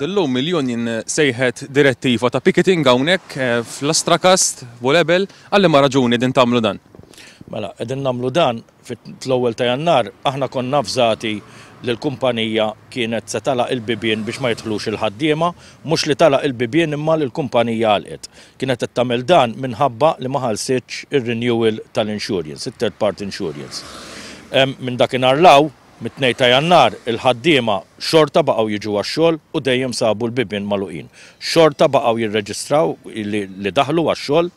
Illum mill-Union sejħet direttiva ta' picketing hawnhekk eh, fl-Astrakast, Bolebel, għalli ma raġuni din tagħmlu dan. Mela, qegħdin nagħmlu dan fl-ewwel ta' Jannar, aħna konna fżati li l-kumpanija kienet se talaq il-bibien biex ma jidħlux il-ħaddiema, mhux li talaq il-bibien imma li l-kumpanija għalqet. Kienet qed tagħmel dan minħabba li ma ħalsitx ir-renewal tal-insurance, it-third party insurance. Minn dakinhar law, Mit-Tnejn ta' Jannar, il-ħaddiema xorta baqgħu jiġu għax-xogħol u dejjem sabu l-bibien magħluqin. Xorta baqgħu jirreġistraw li daħlu għax-xogħol,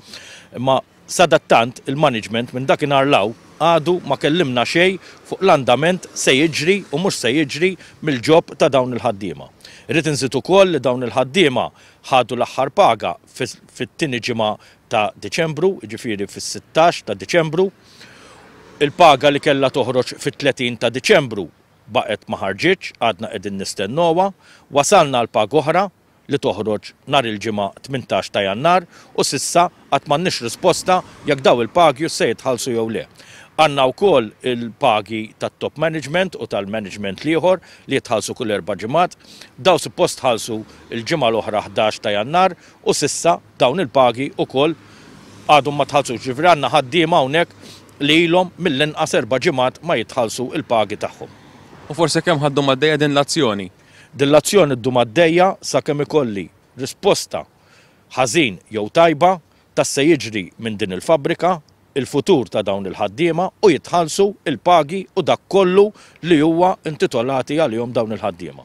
imma sadattant il-management minn dakinhar 'l hawn għadu ma kellimna xejn fuq l-andament se jiġri u mhux se jiġri mill-job ta' dawn il-ħaddiema. Irrid inżid ukoll li dawn il-ħaddiema ħadu l-aħħar paga fit-tieni ġimgħa ta' Diċembru, jiġifieri fis-sittax ta' Diċembru. Il-paga li kellha toħroġ fit-30 ta' Diċembru baqgħet ma ħarġitx, għadna qegħdin nistennowha. Wasalna għal paga oħra li toħroġ nhar il-Ġimgħa 18 ta' Jannar u s'issa għad m'għandniex risposta jekk dawn il-pagius se jitħallsu jew le. Għandna wkoll il-pagi tat-top management u tal-management l-ieħor li jitħallsu kull erba' ġimgħat. Dawn suppost tħallsu l-ġimgħa l-oħra 11 ta' Jannar u s'issa. Dawn il-pagi ukoll għadhom ma tħallsux, jiġifieri għandna ħaddiema hawnhekk li ilhom mill-inqas erba' ġimgħat ma jitħallsu l-pagi tagħhom. U for sakemm ħaddhom għaddejja din l-azzjoni? Din l-azzjoni ddum għaddejja sakemm ikolli risposta, ħażin jew tajba, ta' se jiġri minn din il-fabbrika, il-futur ta' dawn il-ħaddiema u jitħallsu l-pagi u dak kollu li huwa intitolati għalihom dawn il-ħaddiema.